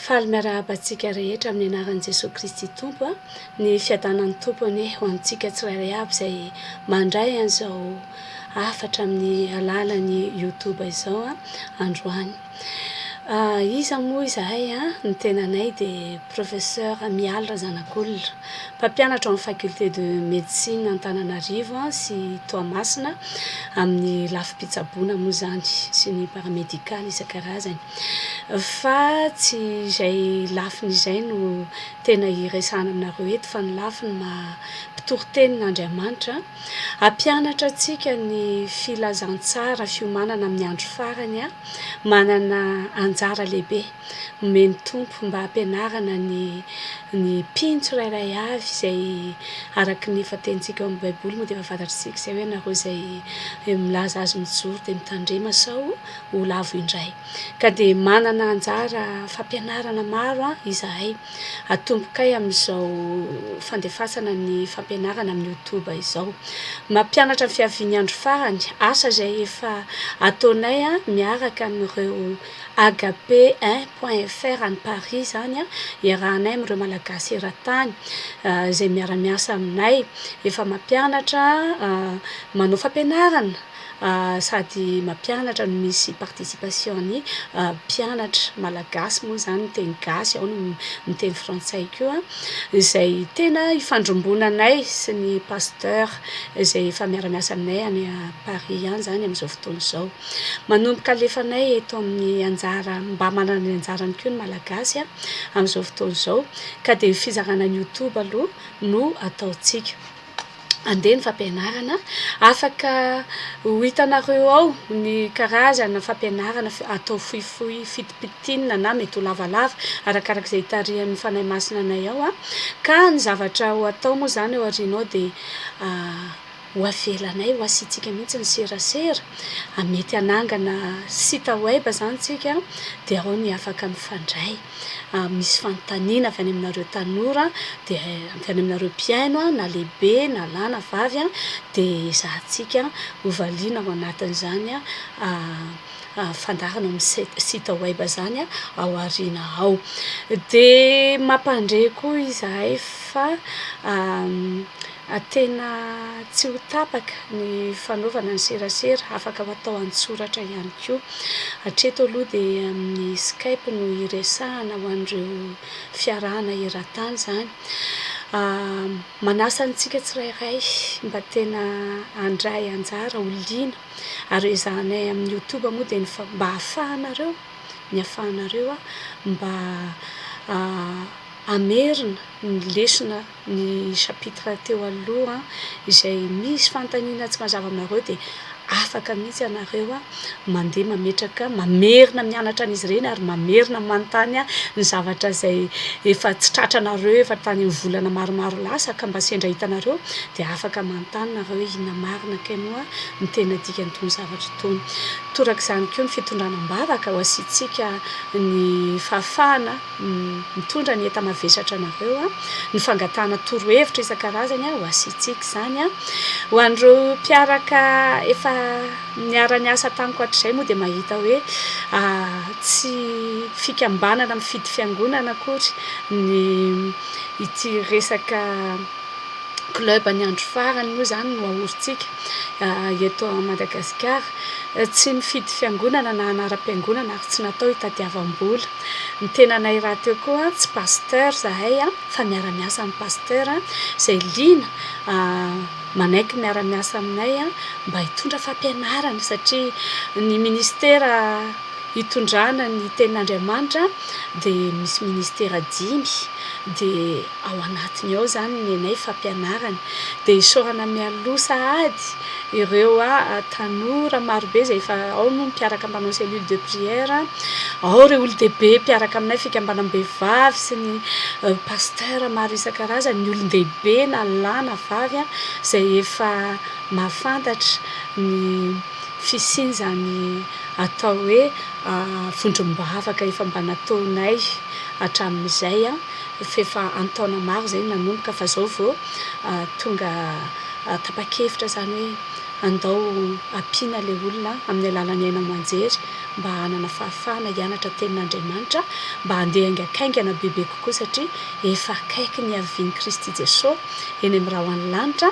Faly miarahaba antsika rehetra amin'ny anaran'i Jesoa Kristy Tompo a! Ny fiadanan'ny Tompo anie ho antsika tsirairay avy izay mandray an'izao hafatra amin'ny alalan'ny Youtube izao a, androany. Iza moa izahay a? Ny tenanay dia Professeur Mialy Razanakolona. Mpampianatra ao amin'ny Faculté de Médecine Antananarivo sy Toamasina amin'ny lafim-pitsaboana moa izany sy ny paramédical isan-karazany. Fa tsy izay lafiny izay no tena hiresahana aminareo eto fa ny lafiny maha mpitory tenin'Andriamanitra. Hampianatra antsika ny filazantsara fiomanana amin'ny andro farany manana anjara lehibe. Omeny ny Tompo mba hampianarana ny ny mpino tsirairay avy izay araka ny efa tenitsika ao amin'ny baiboly moa dia efa fantatr'isika izay hoe ianareo izay milaza azy mijoro dia mitandrema sao ho lavo indray ka dia manana anjara fampianarana maro izahay atombokay amin'izao fandefasana ny fampianarana amin'ny youtube izao mampianatra ny fiavian'ny andro farany asa izay efa ataonay miaraka amin'ireo Agape eh point fr any Paris zany an, iarahanay amin'ireo Malagasy eran-tany izay miara-miasa aminay, efa mampianatra, manao fampianarana sady mampianatra no misy participation-n'ny mpianatra Malagasy moa izany miteny gasy, ao ny miteny frantsay koa, izay tena ifandrombonanay sy ny Pasteur izay efa miara-miasa aminay any Paris ihany izany amin'izao fotoana izao. Manomboka alefanay eto amin'ny anjara, mba manana ny anjarany koa ny Malagasy amin'izao fotoana izao, ka dia fizarana ny youtube aloha no ataontsika. Andeha ny fampianarana, afaka ho hitanareo ao ny karazana fampianarana atao fohifohy fitipitinina na mety ho lavalava arakaraka izay itarihan'ny Fanahy Masina anay ao, ka ny zavatra ho atao moa izany ao aoriana ao dia Ho avelanay ho asiantsika mihitsy ny serasera, mety hanangana site web izany isika dia ao ny afaka mifandray. Misy fanontaniana avy any aminareo tanora, dia avy any aminareo mpihaino na lehibe na lahy na vavy dia ezahantsika hovaliana ao anatin'izany fandaharana ao amin'ny site web izany ao aoriana ao. Dia mampandre koa izahay fa A Tena tsy ho tapaka ny fanaovana ny serasera, afaka hatao an-tsoratra ihany koa. Hatreto aloha dia amin'ny Skype no iresahana ho an'ireo fiarahana eran-tany izany. Manasa antsika tsirairay mba tena handray anjara ho liana ary ezahanay amin'ny Youtube moa dia ny fa- mba hahafahanareo ny hahafahanareo mba hamerina ny lesona. Ny chapitre teo aloha izay misy fanontaniana tsy mazava aminareo dia afaka mihitsy ianareo mandeha mametraka mamerina mianatra an'izy ireny ary mamerina manontany ny zavatra izay efa tsy tratranareo efa tany amin'ny volana maromaro lasa ka mba sendra hitanareo dia afaka manontany nareo hoe inona marina kay moa ny tena dikan'itony zavatra itony. Torak'izany koa ny fitondrana am-bavaka ho asiantsika ny fahafahana mitondra ny enta-mavesatra anareo, ny fangatahana torohevitra isan-karazany ho asiantsika izany. Ho an'ireo mpiaraka efa niara-niasa tamiko hatrizay moa dia mahita hoe tsy fikambanana mifidy fiangonana akory ny ity resaka club ny andro farany moa izany no ahorintsika eto Madagasikara. Tsy nifidy fiangonana na anaram-piangonana ary tsy natao hitadiavam-bola. Ny tenanay rahateo koa tsy pasteur zahay fa miara-miasa amin'ny pasteur izay liana manaiky miara-miasa aminay mba hitondra fampianarana satria ny ministera hitondrana ny tenin'Andriamanitra dia misy ministera dimy dia ao anatiny ao izany ny anay fampianarana dia isaorana mialoha sahady ireo tanora marobe izay efa ao moa ny mpiaraka mpanao cellule de prière ao ireo olon-dehibe mpiaraka aminay fikambanam-behivavy sy ny pasteur maro isan-karazany ny olon-dehibe na lahy na vavy izay efa mahafantatra ny fisian'izany atao hoe vondrom-bavaka efa mba nataonay hatramin'izay F'efa an-taona maro izay nanomboka fa izao vao tonga tapa-kevitra izany hoe andao ampiana ilay olona amin'ny alalan'ny haino aman-jery mba hanana fahafahana hianatra tenin'Andriamanitra mba handeha haingankaingana bebe kokoa satria efa akaiky ny havian'i Kristy Jesoa eny amin'ny ra ho any lanitra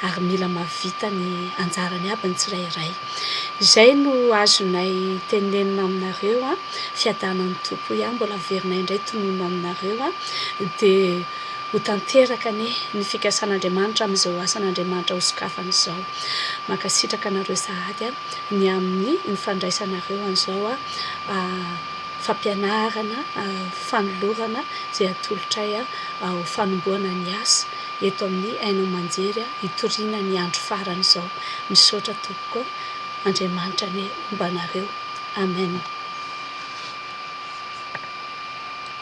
ary mila mahavita ny anjarany aby ny tsirairay. Izay no azonay tenenina aminareo an! Fiadanan'ny Tompo hoy aho mbola averina indray tononina aminareo a! dia ho tanteraka anie ny fikasan'Andriamanitra amin'izao asan'Andriamanitra ho sokafany izao. Mankasitraka anareo sahady a! ny amin'ny ny fandraisanareo an'izao a fampianarana, fanolorana izay atolotray ho fanombohana ny asa eto amin'ny haino aman-jery hitoriana ny andro farany izao. Misaotra tompoko a! Andriamanitra anie homba anareo. Amen.